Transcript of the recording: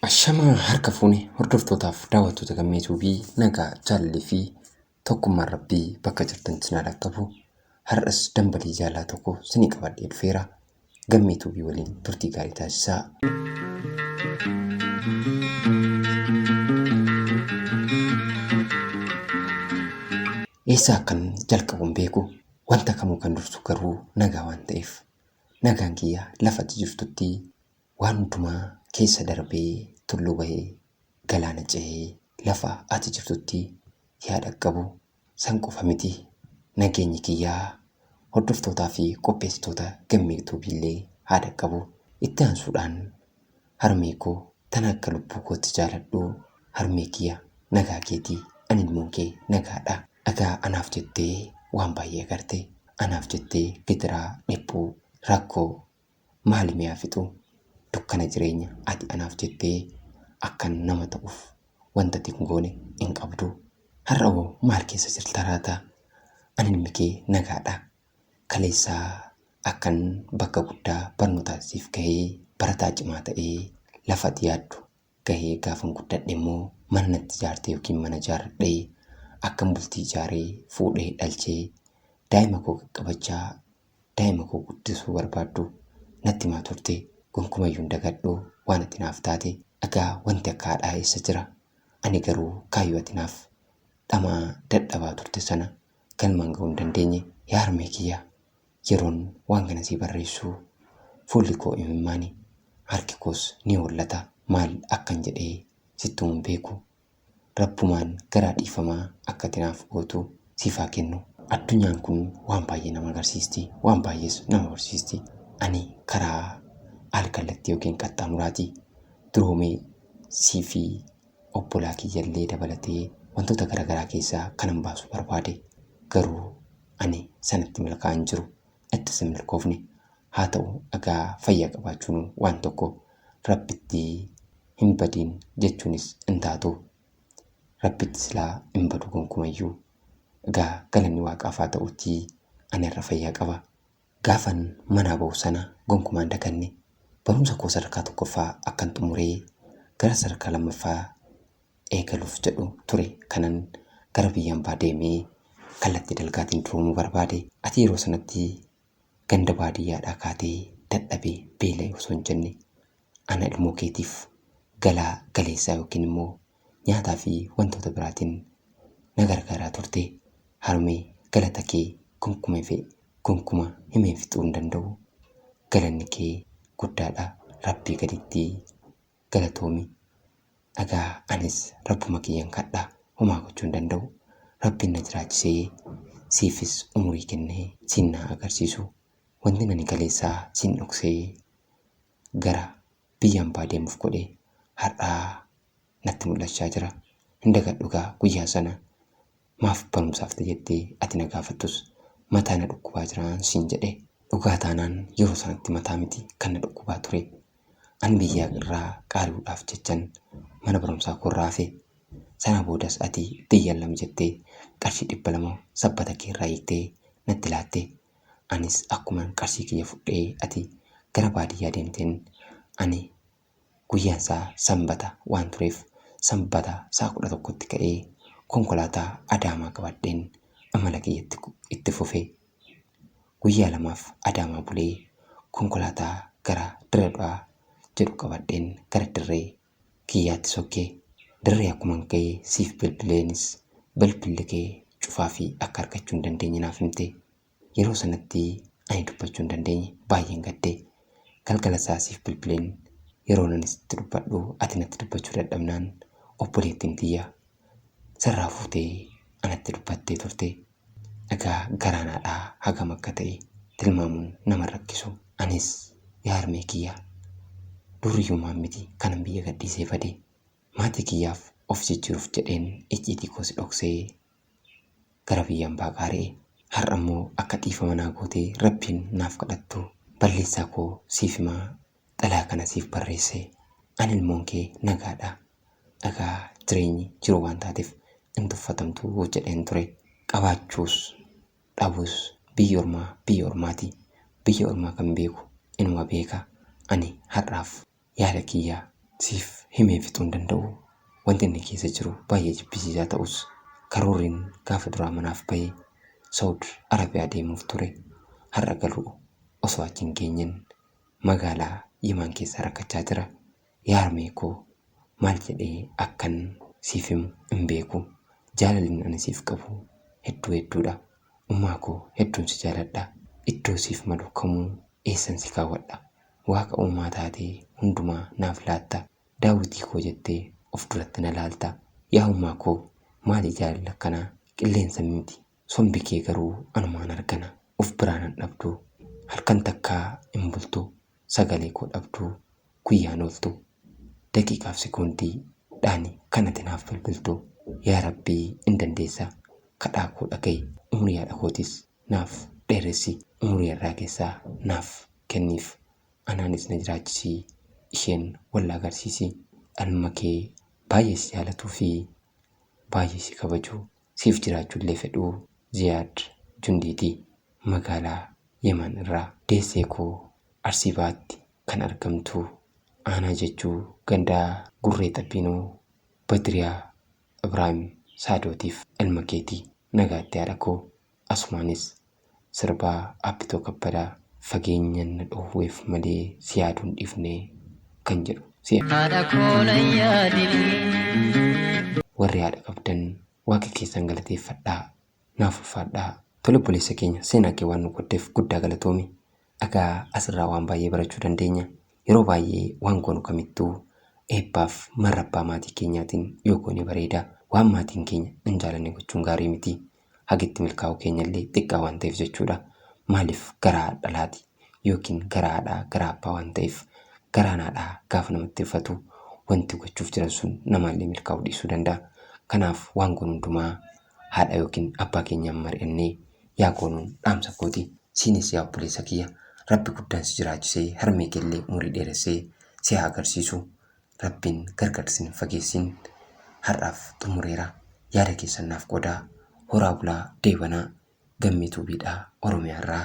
Ashamaa harka fuune hordoftootaaf daawwattoota gammeetuu fi nagaa jaalalli fi tokkummaan rabbii bakka jirtan sinaa dhaqqabu. Har'as dambalii jaalala tokko sinii qabadhee dhufeera. Gammee Tuubii waliin turtii gaarii taasisaa. Eessaa akkan jalqabu hin beeku wanta kamuu kan dursu garuu nagaa waan ta'eef nagaan kiyya lafatti jirtutti waan hundumaa keessa darbee tulluu bahee galaana ce'ee lafa ati jirtutti yaa dhaqqabu San qofa miti nageenyi kiyya hordoftootaa fi qopheessitoota Gammee Tube illee haa dhaqqabu. Itti aansuudhaan harmee koo tana akka lubbuu kootti jaaladhu harmee kiyya nagaa keeti an ilmoon kee nagaadha. Dhagaa anaaf jettee waan baay'ee agarte. Anaaf jettee gidiraa, dhiphuu, rakkoo, Maali mee haa fixu dukkana jireenya ati anaaf jettee akkan nama ta'uuf wanta ati hin goone hin qabdu. Har'a hoo maal keessa jirta laata? Ani ilmi kee nagaadha. Kaleessa akkan bakka guddaa barnootaan siif gahee barataa cimaa ta'ee lafa ati yaaddu gahee gaafan guddadhe immoo mana natti ijaarte yookiin mana ijaarradhe akkan bultii ijaaree fuudhee dhalchee daa'ima koo qaqqabachaa daa'ima koo guddisuu barbaaddu natti himaa turte gonkumayyuu hin dagadhu waan ati naaf taate egaa wanti akka haadhaa eessa jira ani garuu kaayyoo ati naaf dhamaa dadhabaa turte sana galmaan ga'uu hin dandeenye yaa harmee kiyya Yeroon waan kana sii barreessu fuulli koo imimmaani, harki koos ni hollata. Maal akkan jedhe sittuu hin beeku. Rabbumaan garaa dhiifamaa akka ati naaf gootu siif haa kennu. Addunyaan kun waan baay'ee nama agarsiisti, waan baay'ees nama barsiisti. Ani karaa al-kallattii yookiin qaxxaamuraati. Duroomee sii fi obbolaa kiyya illee dabalatee wantoota gara garaa keessaa kanan baasu barbaade. Garuu ani sanatti milkaa hin jiru attis hin milkoofne haa ta'u egaa fayya qabaachuun waan tokko rabbitti hin badiin jechuunis hin taatu rabbitti silaa hin badu gonkumayyuu egaa galanni waaqaaf haa ta'utii ani irra fayyaa qaba gaafan manaa ba'u sana gonkumaan daganne barumsa koo sadarkaa tokkoffaa akkan xumuree gara sadarkaa lammaffaa eegaluuf jedhu ture kanan gara biyya ambaa deemee kallattii dalgaatiin duroomuu barbaade. Ati yeroo sanatti ganda baadiyyaadhaa kaatee dadhabee beela'e osoo hin jenne ana ilmoo keetiif galaa galeessaa yookiin immoo nyaataa fi wantoota biraatiin na gargaaraa turte. Harmee galata kee gonkuma fi gonkuma himeen fixuu hin danda'u. Galanni kee guddaadha Rabbii gaditti. galatoomi dhagaa anis rabbuma kiyyan kadha homaa gochuu hin danda'u rabbin na jiraachisee siifis umurii kennee siin naa agarsiisu wantin ani kaleessaa siin dhoksee gara biyya ambaa deemuf godhe har'aa natti mul'achaa jira hin dagadhu gaa guyyaa sana Maaf barumsaaf na jettee ati na gaafattus mataa na dhukkubaa jiraan siin jedhe. Dhugaa taanaan yeroo sanatti mataa miti kan na dhukkubaa ture. An biyyaa irraa qaari'uudhaaf jechan mana barumsaa koorraa hafe. Sanaa boodas ati biyyan lama jettee qarshii dhibba lama sabbata keerraa hiiktee natti laatte. Anis akkuman qarshii kiyya fudhee ati gara baadiyyaa deemteen ani Guyyaan isaa Sanbata waan tureef Sanbata sa'a 11tti ka'ee konkolaataa Adaamaa qabadheen amala kiyya itti gu- itti fufe. Guyyaa lamaaf Adaamaa bulee konkolaataa gara Dirree Dhawaa jedhu qabadheen gara dirree kiyyaatti sokke. Dirree akkuman ga'e siif bilbileenis bilbilli kee cufaa fi akka argachuu hin dandeenye naaf himte. Yeroo sanatti ani dubbachuu hin dandeenye. Baay'een gadde. Galgala isaa siif bilbileen yeroon ani sitti dubbadhu ati natti dubbachuu dadhabnaan obboleettiin tiyya sarraa fuutee anatti dubbattee turte. Egaa garaan haadhaa hagam akka ta'e tilmaamuun nama hin rakkisu. Anis yaa harmee kiyya duuriyyummaan miti kanan biyya gadhiisee bade. Maatii kiyyaaf of jijjiiruuf jedheen icciitii koos dhoksee gara biyya ambaa qaari'e. Har'a immoo akka dhiifama naa gootee Rabbiin naaf kadhattu balleessaa koo siif himaa xalayaa kana siif barreesse. Ani ilmoon kee nagaadha. Egaa jireenyi jiruu waan taateef hin tuffatamtu jedheen ture. Qabaachuus dhabuus biyyi ormaa biyya ormaati. Biyya ormaa kan beeku inuma beeka. Ani har'aaf Yaada kiyya siif himee fixuu hin danda'u. Wanti inni keessa jiru baay'ee jibbisiisaa ta'us, karoorriin gaafa duraa manaaf bahe Sawud Arabiyaa deemuuf ture. Har'a garuu osoo achi hin geenyeen magaalaa Yimaan keessa rakkachaa jira. Yaa harmee koo maal jedhee akkan siif himu hin beeku. Jaalalin ani siif qabu hedduu hedduudha. Ummaa koo hedduun si jaaladha. Iddoo siif malu kamuu eessan si kaawwadha. Waaqa uumaa taatee hundumaa naaf laatta Daawitii koo jettee of duratti na laalta Yaa uumaa koo maali jaalalli akkanaa Qilleensa miiti sombi kee garuu anumaan hargana Of biraa nan dhabdu halkan takkaa hin bultu Sagalee koo dhabdu guyyaan ooltu Daqiiqaaf sekoondii dhaani kan ati naaf bilbiltu Yaa rabbii in dandeessa kadhaa koo dhagahi Umrii haadha kootis naaf dheeressi umurii har'aa keessaa naaf kenniif anaanis na jiraachisii isheen wal na agarsiisi anuma kee baay'ee si jaalatuu fi baay'ee si kabaju siif jiraachuu illee fedhu Ziyaad Jundiidi magaalaa Yeman irraa deessee koo Arsii Bahaatti kan argamtu aanaa Jajjuu gandaa Gurree Xabbiinoo Badriyaa Ibrahim Saadootiif ilma keeti nagaatti haadha koo asumaanis sirbaa Abbitoo Kabbadaa fageenyan na dhoowweef malee si yaaduu hin dhiifne kan jedhu si Haadha koo na yaadini. Warri haadha qabdan waaqa keessan galateeffadhaa Naaf ulfaadhaa. Tole obboleessa keenya seenaa kee waan nu qooddeef guddaa galatoomi. Egaa asirraa waan baay'ee barachuu dandeenya. Yeroo baay'ee waan goonu kamittuu eebbaaf marra abbaa maatii keenyaatiin yoo goone bareeda. Waan maatiin keenya hin jaalanne gochuun gaarii miti. Haga itti milkaa'uu keenyallee xiqqaa waan ta'eef jechuudha. Maaliif garaa haadhalaati yookiin garaa haadhaa garaa abbaa waan ta'eef garaan haadhaa gaafa namatti ulfatu wanti gochuuf jiran sun namaallee milkaa'uu dhiisuu danda'a. Kanaaf waan goonu hundumaa haadha yookiin abbaa keenyaan mari'annee yaa goonuun dhaamsa kooti. Siinis yaa obboleessa kiyya Rabbi guddaan si jiraachisee harmee keellee umurii dheeressee si haa agarsiisu. Rabbiin gargar sin hin fageessiin. Har'aaf xumureera. Yaada keessan naaf qoodaa. Horaa bulaa, deebanaa. Gammee Tuubiidha, Oromiyaarraa.